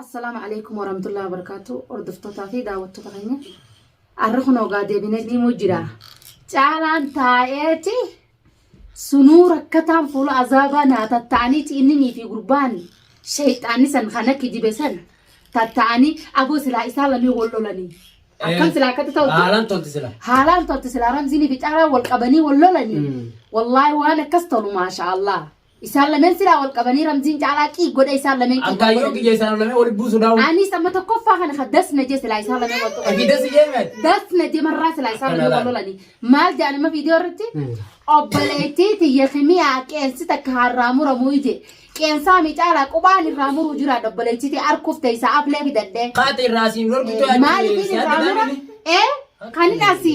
Assalaamu alaikum warahmatullahi wabarakatuh hordoftoota fi daawwattoota keenya arra kun ogaa deebinee diimuu jira caalaan taa'eeti sunuu rakkataan fuula azaabaa naa tatta'aniiti inninii fi gurbaan shayxaanni san kana kijibe san tatta'anii aboo silaa isaa lamee wal lolanii akkam silaa akkatti ta'utti Haalaan tolti sila. haalaan tolti silaa ramziinii fi caalaan wal qabanii wal lolanii Mm. wallaahi waan akkas tolu maasha allah Isaan lameen silaa wal qabanii ramziin caalaa qiig godhe isaan lameen qiig Akkaa yeroo kiyya isaan lamee walitti buusu daawwa. Anis amma tokkoffaa kana ka das na jee silaa isaan lameen wal qabanii. Akii dasi jeemen. Das na jee marraa silaa isaan lameen wal lolanii. Maal jedhan amma viidiyoo irratti? Obboleettii tiyya kimiyaa qeensi takka harraa muramuu ije. Qeensaa mi caalaa qubaan irraa muruu jira obboleettii tiyya harkuuf teessaa aflee fidadhee. Kaate irraa siin dorgitoo. Maaliif irraa mura? Ee? Kan hin asi.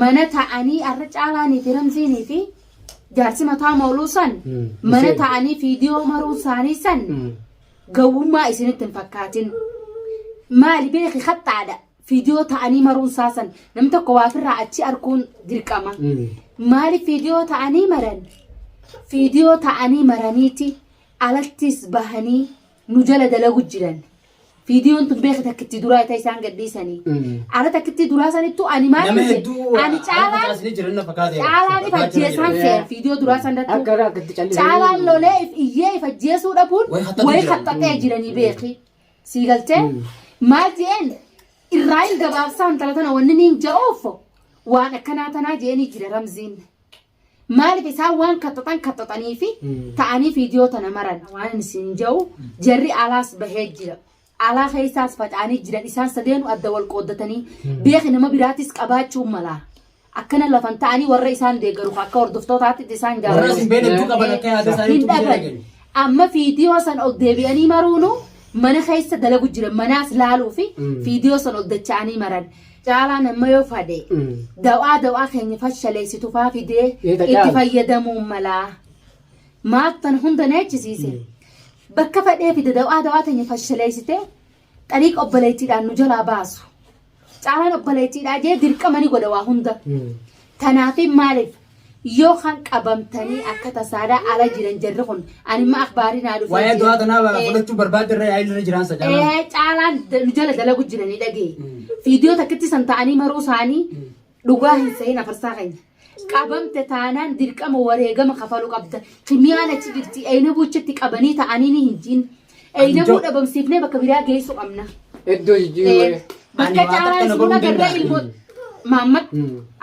mana ta'anii arra caalaa niiti ramziinii fi jaarsi mataa mooluu san Mm. mana Isheen. ta'anii fiidiyoo maruu isaanii san Mm. gawwummaa isinitti hin fakkaatin maali beeki haxxaadha fiidiyoo ta'anii maruun isaa san namni tokko waafirraa achi arguun dirqama Mm. maali fiidiyoo ta'anii maran fiidiyoo ta'anii maraniiti alattis bahanii nu jala dalagu jiran viidiyoon tun beeka takkitti duraa ita isaan gadhiisanii ara takkitti duraa sanittu ani maal Nama jedhe hedduu ani caalaan facaasni jiran na fakkaate. caalaan if ajjeesaan kee viidiyoo duraa san irratti Akka irraa akkatti callisee. caalaan lolee if iyyee if ajjeesuu dhabuun Way haxxatu way jiran. haxxatee jiranii beeki sii galtee maal jeen irraa hin gabaabsaan tala tana wanni niin ja'uuf waan akkanaa tanaa jeenii jira ramziin Maaliif isaan waan kaxaxan kaxaxanii fi ta'anii viidiyoo tana maran waan isin ja'u jarri alaas bahee jira. Alaa keessaas faca'anii jiran isaan sadeenu adda wal qooddatanii beeki nama biraatis qabaachuu mala. Akkana lafan ta'anii warra isaan deeggaru akka hordoftootaatti isaan Warra jaalatu. isin beekne hedduu qaban akka yaada isaanii Hin hedduu dhaban. jiraatan. Amma viidiyoo san ol deebi'anii maruunu mana keessa dalagu jiran manaas laaluu fi viidiyoo san ol dacha'anii maran. Caalaan amma yoo fade dawaa dawaa keenya fashaleessitu faa fidee itti fayyadamuun malaa maaf tan hunda neechisiise bakka fadhee fide dawaa dawaa teenya fashaleessitee xariiqa obboleettiidhaan nu jalaa baasu caalaan obboleettiidhaa jee dirqama ni godha waa hunda tanaafi maaliif Yoo kan qabamtanii akka tasaadhaa ala jiran jarri kun animma akbaarii naa dhufee Waa'ee du'aa tanaa Eh, fudhachuu barbaadde irra yaa'ii irra jiraan sadaan. ee, caalaan da- nu jala dalagu jiranii dhagee. Viidiyoo takkitti san ta'anii maruu isaanii dhugaa hin sehin afarsaa keenya. Qabamte taanaan dirqama wareegama kafaluu qabda. Kimiyaan achi jirti eeyina buuchatti qabanii ta'anii ni hin jiin. Eeydamuu dhabamsiifnee bakka biraa geessu qabna. Iddoo jijjiiruu. Bakka caalaa isin agarra ilmoo. Maammad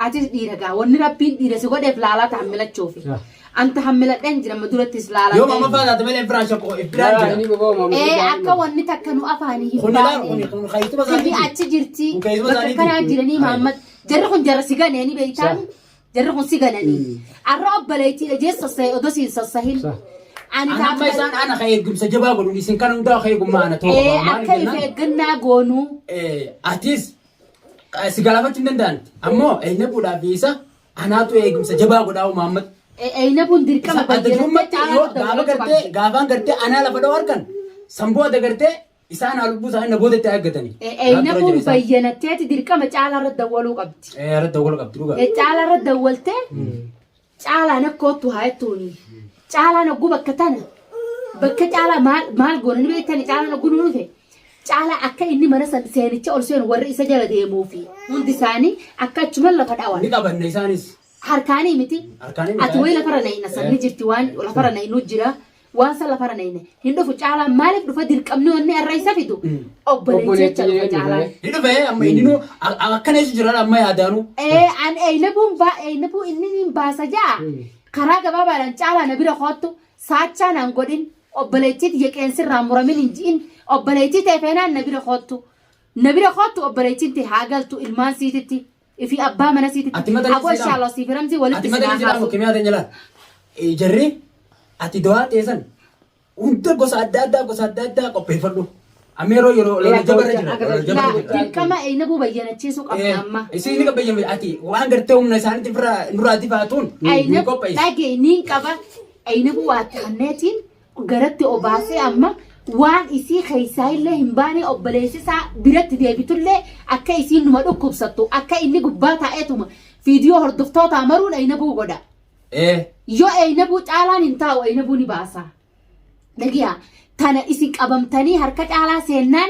atis dhiira gaa wanni rabbiin dhiira si godheef laalaa ta'an milachuufi. Anta hammiladheen jira amma durattis laalaa. Yoo mama faana tabe leen firaan shakku ifiraan jira. Inni bobaa maamuu. Ee akka wanni takka nu afaanii hin Kun ilaalu baane. kun kun kaayituma Inni isaanii. achi jirti. Kun keessuma bakka isaaniiti. kanaa jiranii Maammad. Jarri kun jarra si ganee ni beektaan. Jarri kun si gananii. Arra obboleettiidha jee sassahe odoo siin sassahin. Ani Ana amma isaan ana ka eegumsa jabaa godhuun isin kana hundaa ka eegummaa ana ta'uu Ee qaba. akka Maaliif if jennaan, eeggannaa goonuu. eh, atis eh, si galaafachuu hin danda'an. Ammoo eenyu fuudhaa fi isa anaatu eegumsa jabaa godhaa uumaammata. Eeyna kun dirqama Isa adda durummaatti yoo gaafa gartee gaafaan gartee anaa lafa dha'u argan samboo adda gartee Isaan haa lubbuu isaanii na booda itti eeggatanii. Eeyna kun bayyanatteeti dirqama caalaa irratti dawwaluu qabdi. Irratti dawwaluu qabdi dhugaa. Caalaa irratti dawwaltee caalaan akka oottu haa jettuuni. Caalaan ogguu bakka tana bakka caalaa maal maal goona ni beektani caalaan ogguu nu dhufe. Caalaa akka inni mana san seenicha ol seenu warri isa jala deemuu fi hundi isaanii akka achuman lafa dhawan. Ni qabanna isaanis. Harkaanii miti. Harkaanii miti. Ati wayii lafarra na hin asan ni jirti waan lafarra na hin jira. Waan san lafarra nayne hin dhufu caalaan maaliif dhufa dirqamni wanni arra isa fidu obboleetticha dhufa caalaan. Ni dhufe amma inni nu akkana isa jiran amma yaadaanu. Ee an eeynabuun baa eeynabuu inni niin baasa ja'a karaa gabaabaadhaan caalaa na bira koottu saachaa naan godhin obboleettii tiyya qeensirraa muramin hin ji'in obboleettii tee feenaan na bira koottu na bira koottu obboleettiin tee haa galtu ilmaan siititti Ifi abbaa mana siiti Ati mata Aboo jijjiiraa. inshallah siif ramzii walitti Ati mata sinaa jijjiiraa haasu. kimiyyaa teenya laal. Eh, Jarri ati dawaa teessan hunda gosa adda addaa gosa adda addaa qopheeffadhu. Amma yeroo yeroo lola jabarra jira. Lola jabarra jira. Dirqama eeynabuu bayyanachiisuu qabna amma. Isiin ni bayyame ati waan gartee humna isaaniitti irraa nurraa difaatuun nu Eeynab qopheessi. dhagee niin qaba. Eeynabuu waa taanneetiin garatti obaasee amma waan isii keessaa illee hin baanee obboleessisaa biratti deebitullee akka isiin numa dhukkubsattu akka inni gubbaa taa'eetuma viidiyoo hordoftoota amaruun aynabuu godha. Ee. Yoo aynabuu caalaan hin taa'u aynabuu ni baasa. Dhagiyaa tana isin qabamtanii harka caalaa seennaan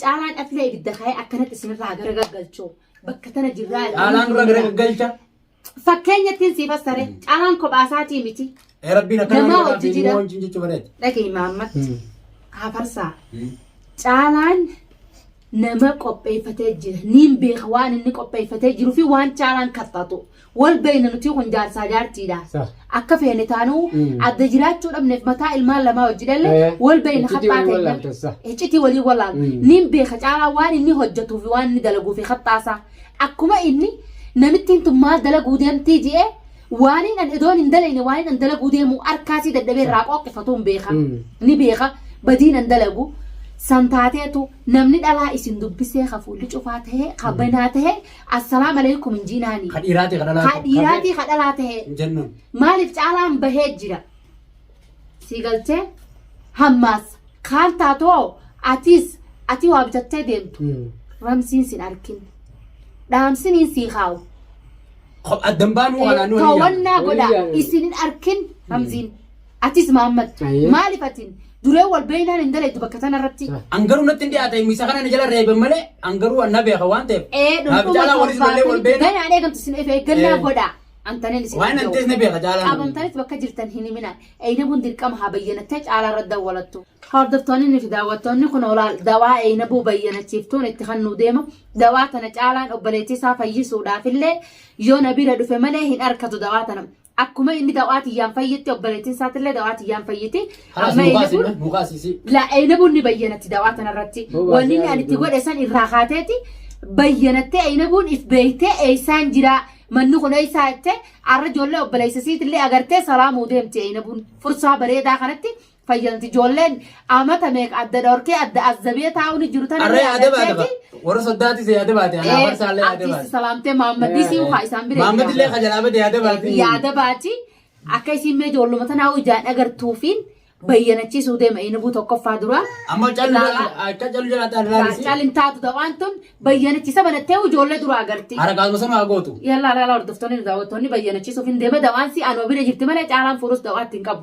Caalaan afila ibidda kaa'ee akkanatti isinirraa gara gaggalchoo bakka tana jirraa Caalaan dura gara gaggalcha. Fakkeenya ittiin siif assare caalaan kophaa isaatii miti. Ee rabbiin akkana Namaa godhaa hojii fi jira. immoo wajjin jechuu bareeda. Dhageenyi Maammat Kaafarsaa caalaan nama qopheeffatee jira. Niin beeka waan inni qopheeffatee jiruu fi waan caalaan kaffatu. Wal beeyna nutii kun jaarsaa jaartiidha. Sah. Akka feene taanuu Mm. adda jiraachuu dhabneef mataa ilmaan lamaa wajji dhalle Eh, wal beeyna iccitii haxxaa waliin wallaaltan, sah. teenyaan iccitii waliin wallaalna. Mm. Nin beeka caalaa waan inni hojjetuu fi waan inni dalaguu fi haxxaasaa. Akkuma inni namittiin tun maal dalaguu deemtii je'ee waaniin an idoon hin dalayne waaniin an dalaguu deemu harkaasii dadhabee irraa qooqqifatuun beeka. Mm. Ni beeka badiin an dalagu san taateetu namni dhalaa isin dubbisee ka fuulli cufaa tahee ka banaa tahee Assalam aleykum hin jiinaani. Ka dhiiraatii ka dhalaa Ka ta'e. dhiiraatii ka dhalaa ta'e. Hin jennaan. Maaliif caalaan bahee jira. Sii galchee hammaas kaan taatoo atiis atii waa bitattee deemtu. Hmm. Ramsiin sin arkin. Dhaamsiniin sii kaawu. Ko- Addan baanuu kanaan nu Toowwannaa Waliin godhaa. yaa'u. Isin hin arkin Ramziin. Atis Maammad Ayee. maaliif atiin duree wal beeynaan hin dalaydu bakka tanarratti An garuu natti hin dhiyaate isa kana na jala reebe malee an garuu an na beeka waan ta'eef. ee Naaf dhundhuma caalaa waliin ijoollee wal beena. ganaa dheegamtu isin efe eeggannaa Ee. godhaa antaneen isin Waan antees na beeka caalaa. qabamtanitti bakka jirtan hin himinaa eeynabuun dirqama haa bayyanattee caalaa irra dawwalattu hordoftoonni fi daawwattoonni kun olaal dawaa eeynabuu bayyanachiiftuun itti kan nu deema dawaa tana caalaan obboleettii isaa fayyisuudhaaf illee yoo na bira dhufe malee hin arkatu dawaa tana Akkuma inni dawaa tiyyaan fayyitti obboleettiin isaattillee dawaa tiyyaan fayyiti. Halas Amma mukaas Eynabuun immoo mukaas isii. la Eynabuun ni bayyanatti dawaa tanarratti. Mukaas Wanni inni yaa ani itti Rabbi. godhe san irraa kaateeti bayyanattee Eynabuun if beeytee eeysaan jiraa manni kun eeysaa jettee arra ijoollee obboleessa isiitillee agartee salaamuu deemti Eynabuun fursaa bareedaa kanatti fayyanti ijoolleen amata meeqa adda dhorkee adda azzabee taa'uun jiru tana Arree yaada baata ba. yaadateeti Warra soddaatis yaada baate. Anaa farsaallee yaada artiisti baate. salaamtee maammadisii ukaa isaan bira Maammad illee ka jalaa bade yaada baate. yaada baati akka isiin mee ijoolluma tanaa ijaan agartuufiin bayyanachiisuu deema inabuu tokkoffaa dura Amma callu Ilaala. akka callu jalaa ta'a ilaalisi. caalin taatu ta'aan tun bayyanachiisa banattee ijoollee dura agarti Harakaasuma sana haa gootu. yallaa laalaa hordoftoonni nu daawwattoonni bayyanachiisuuf hin deema dawaan si anuma bira jirti malee caalaan fuudhus dawaatti hin qabu